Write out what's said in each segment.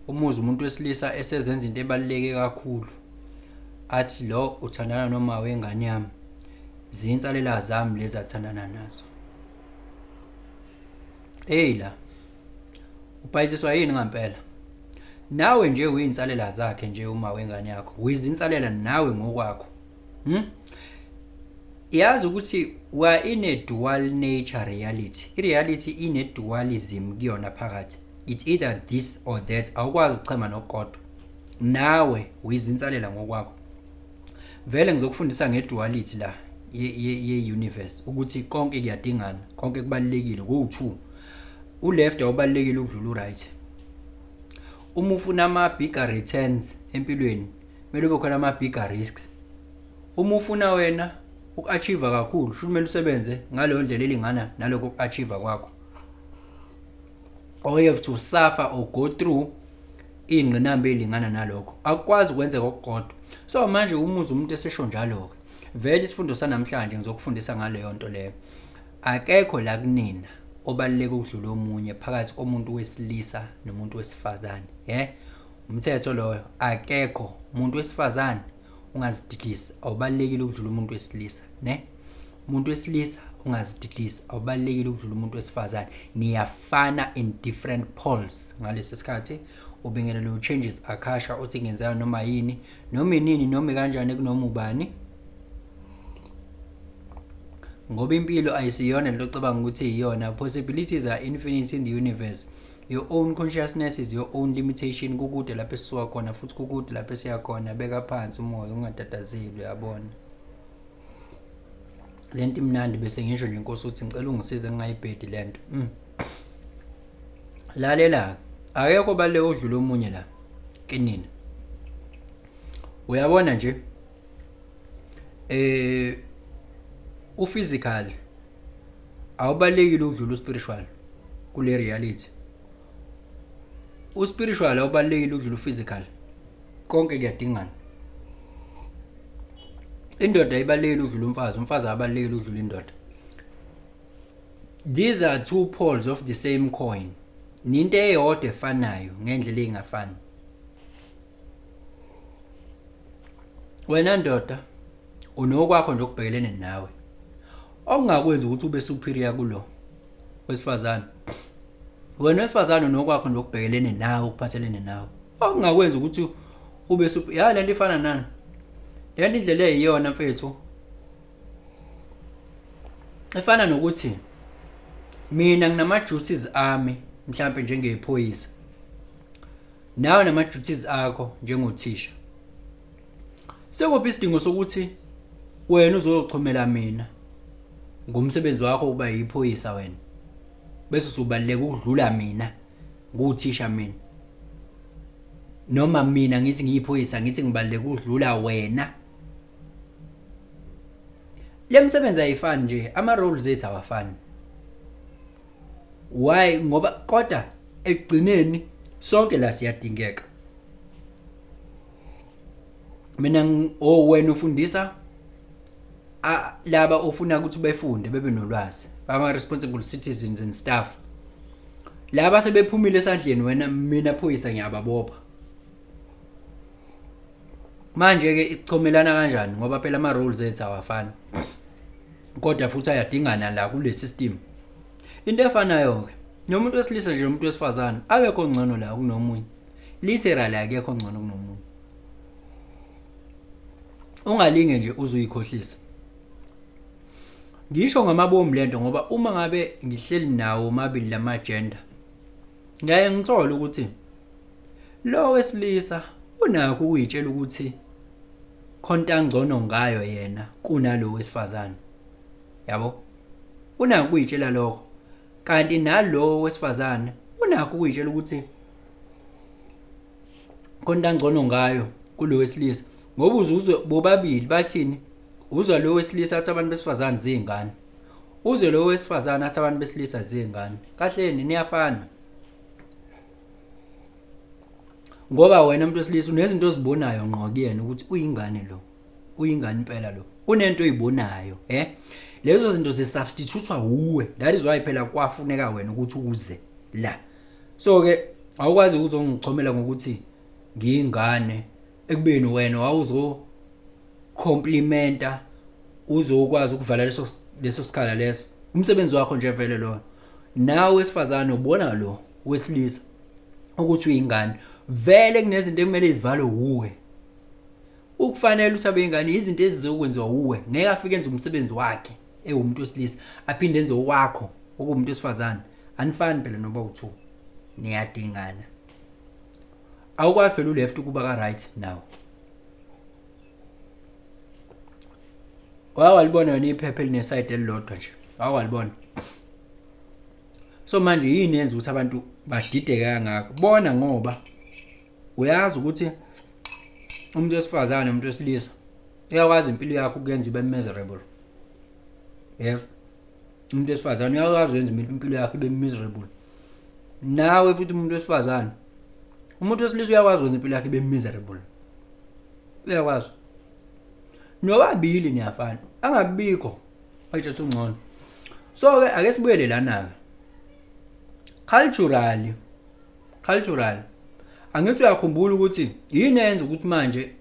umuzi umuntu wesilisa esezenza into ebaluleke kakhulu athi lo uthandana noma wengane yami zinsalela zami lezi athandana nazo eyi la ubhayisiswa yini ngampela nawe nje uyinsalela zakhe nje uma wengane yakho wizinsalela nawe ngokwakho Hmm? Yazi ukuthi wa in a dual nature reality. I-reality ine-dualism kuyona phakathi. It's either this or that. Awukwazi ukuchema nokukodwa. Nawe uyizinsalela ngokwakho. Vele ngizokufundisa nge-duality la ye-universe ukuthi konke kuyadingana, konke kubalulekile kuwu-2. U-left awubalulekile ukudlula u-right. Uma ufuna ama-bigger returns empilweni kumele ube khona ama-bigger risks uma ufuna wena uku-achieve kakhulu futhi kumele usebenze ngaleyo ndlela elingana nalokho uku-achieve kwakho or you have to suffer or go through iy'ngqinamba ey'lingana nalokho akukwazi ukwenzeka okukodwa so manje umuzi umuntu esesho njalo-ke vele isifundo sanamhlanje ngizokufundisa ngaleyo nto leyo akekho la kunina obaluleke ukudlula omunye phakathi komuntu wesilisa nomuntu wesifazane ye umthetho loyo akekho umuntu wesifazane ungazididisi awubalekile ukudlula umuntu wesilisa ne umuntu wesilisa ungazididisi awubalekile ukudlula umuntu wesifazane niyafana in different poles ngalesi sikhathi ubingelele u-changes akhasha uthi ngenzeka noma yini noma inini noma kanjani kunoma ubani ngoba impilo ayisiyona lento ocabanga ukuthi iyona possibilities are infinite in the universe your own consciousness is your own limitation kukude lapho esisuka khona futhi kukude lapho esiya khona beka phansi umoya ungatatazeli uyabona le nto imnandi bese ngisho nje nkosi ukuthi ngicela ungisize ngingayibhedi le nto mm. lalela akekho bale odlula omunye la kinina uyabona nje eh u physical awubalekile ukudlula uspiritual kule reality uspiritual awubalekile ukudlula uphysical konke kuyadingana indoda ibalekile ukudlula umfazi umfazi abalekile ukudlula indoda these are two poles of the same coin ninto eyodwa efanayo ngendlela engafani wena ndoda unokwakho nje okubhekelene nawe okungakwenza ukuthi ube superior kulo wesifazane wena wesifazane unokwakho nje okubhekelene nawe okuphathelene nawe okungakwenza ukuthi ube superior ya lento ifana nani lento indlela eyiyona mfethu efana nokuthi mina nginama duties ami mhlambe njengephoyisa nawe nama duties akho njengothisha sekuphi isidingo sokuthi wena uzochomela mina ngomsebenzi wakho uba yiphoyisa wena bese usubaleka ukudlula mina nguthisha mina noma mina ngithi ngiyiphoyisa ngithi ngibaleka ukudlula wena lemsebenzi ayifani nje ama roles ethu awafani why ngoba kodwa ekugcineni sonke la siyadingeka mina oh wena ufundisa laba ofuna ukuthi befunde bebe nolwazi bama responsible citizens and staff laba sebephumile esandleni wena mina phoyisa ngiyababopha manje ke ichomelana kanjani ngoba phela ama rules ethu awafani kodwa futhi ayadingana la kule system into efanayo-ke nomuntu wesilisa nje nomuntu wesifazane akekho ngcono la kunomunye literally akekho ngcono kunomunye ungalinge nje uzuyikhohlisa ngisho ngamabomu lento ngoba uma ngabe ngihleli nawo mabili lama gender ngaye ngithola ukuthi lo wesilisa unakho ukuyitshela ukuthi khonta ngcono ngayo yena kunalo wesifazane yabo unako ukuyitshela lokho kanti nalowo wesifazane unakho ukuyitshela ukuthi khonta ngcono ngayo kulo wesilisa ngoba uzuzwe bobabili bathini uzwa lo wesilisa athi abantu besifazane zingane uzwe lo wesifazane athi abantu besilisa zingane kahleni niyafana ngoba wena umuntu wesilisa unezinto ozibonayo ngqo kuyena ukuthi uyingane lo uyingane impela lo kunento oyibonayo eh lezo zinto zisubstitutwa wuwe that is why phela kwafuneka wena ukuthi uze la so ke awukwazi ukuzongichomela ngokuthi ngiyingane ekubeni wena wawuzo complimenta uzokwazi ukuvala leso leso sikhala leso umsebenzi wakho nje vele lona nawe wesifazane ubona lo wesilisa ukuthi uyingane vele kunezinto ekumele izivalwe wuwe ukufanele ukuthi abeyingane izinto ezizokwenziwa wuwe ngeke afike enze umsebenzi wakhe ewumuntu wesilisa aphinde enze owakho okuwumuntu wesifazane anifani phela noba uthu niyadingana awukwazi phela uleft ukuba ka-right nawo wake walibona yona iphepha elinesayidi elilodwa nje wake walibona so manje yini yenza ukuthi abantu badideke kangako bona ngoba uyazi ukuthi umuntu wesifazane umuntu wesilisa uyakwazi impilo yakho ukuyenza ibe miserable yebo umuntu wesifazane uyakwazi wenza impilo yakhe ibe miserable nawe futhi umuntu wesifazane umuntu wesilisa uyakwazi wenza impilo yakhe ibe miserable uyakwazi nobabili niyafana angabikho ayithatha ungcono so ke ake sibuyele lana ke culturally culturally angithi uyakhumbula ukuthi yini eyenza ukuthi manje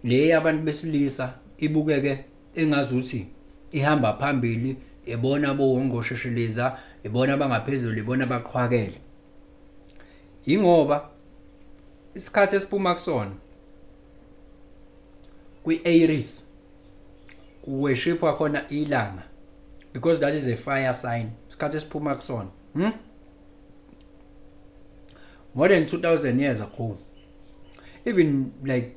le yabantu besilisa ibukeke engazuthi ihamba phambili ibona bowongqoshoshiliza ibona abangaphezulu ibona abaqhwakele yingoba isikhathi esiphuma kusona kwi-aries kuweshipwa khona ilanga because that is a fire sign isikhathi esiphuma kusona hmm? more than 2000 years ago even like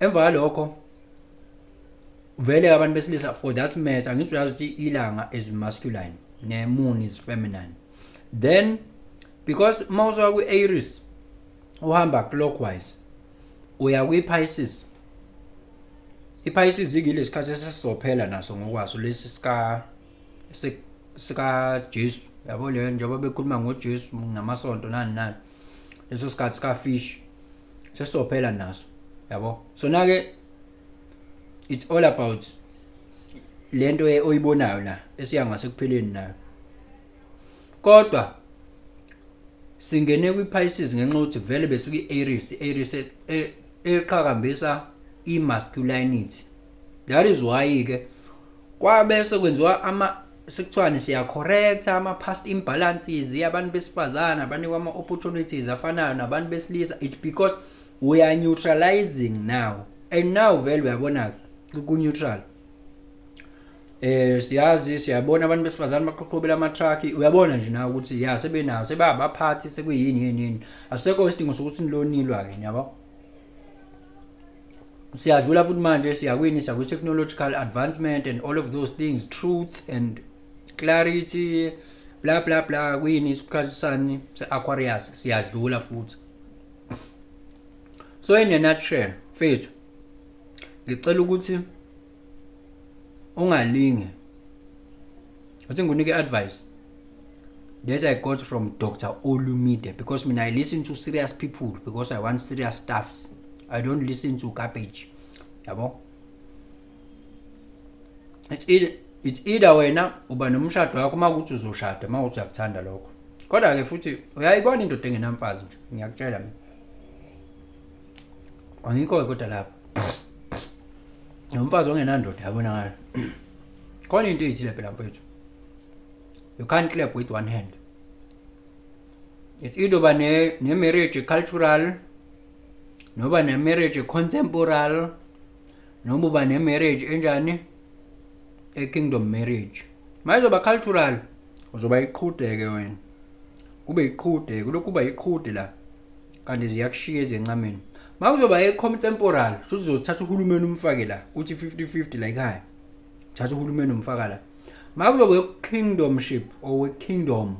emva kwalokho vele abantu besilisa for that matter angithi uyazi ukuthi ilanga is masculine ne-moon is feminine then because uma usuka kwi-aries uhamba clockwise uya kwi-pisces i-pisces ikile sikhathi esesizophela naso ngokwaso lesi sika sikajesu yabo leyo njengoba bekhuluma ngojesu namasonto nani nani leso sikhathi sika fish sesizophela naso yabo so nake it's all about lento oyibonayo la esiya ngasekupheleni nayo kodwa singene kwi-Pisces ngenxa ukuthi vele besuke i-Aries i-Aries e, e, eqhakambisa i-masculinity that is why ke kwabe sekwenziwa ama sekuthiwani siya correct ama past imbalances yabantu besifazana abanikwa ama opportunities afanayo nabantu besilisa it's because we are neutralizing now and now vele uyabona ku neutral eh siyazi siyabona abantu besifazane baqhoqhobela ama truck uyabona nje nawe ukuthi ya sebenawo sebabaphathi sekuyini yini yini asekho isidingo sokuthi nilonilwa ke yabo siyadlula futhi manje siyakwini siya kwi-technological advancement and all of those things truth and clarity bla bla bla kwini isikhathi sani se-aquarius siyadlula futhi so in a nutshell mfethu ngicela ukuthi ungalinge uthi ngikunike advice that i got from dr olumide because mina i listen to serious people because i want serious stuffs i don't listen to garbage yabo it's either, it's either wena uba nomshado wakho uma ukuthi uzoshada uma ukuthi uyakuthanda lokho kodwa-ke futhi uyayibona indoda engenamfazi nje ngiyakutshela mina angikho-ke kodwa lapho nomfazi ongenandoda yabonakala khona into eyithile phela mfethu you can't clap with one hand it's either uba ne-marriage ne cultural noba ne-marriage contemporal noma uba ne-marriage enjani e-kingdom marriage ma izoba cultural uzoba iqhudeke wena kube iqhudeke kulokhu kuba iqhude la kanti ziyakushiya ezencameni makuzoba e-com temporal shuthi uzothatha uhulumeni umfake la uthi 50-50 la ekhaya thatha uhulumeni umfaka la makuzoba e-kingdomship or we-kingdom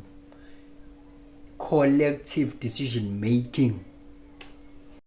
collective decision making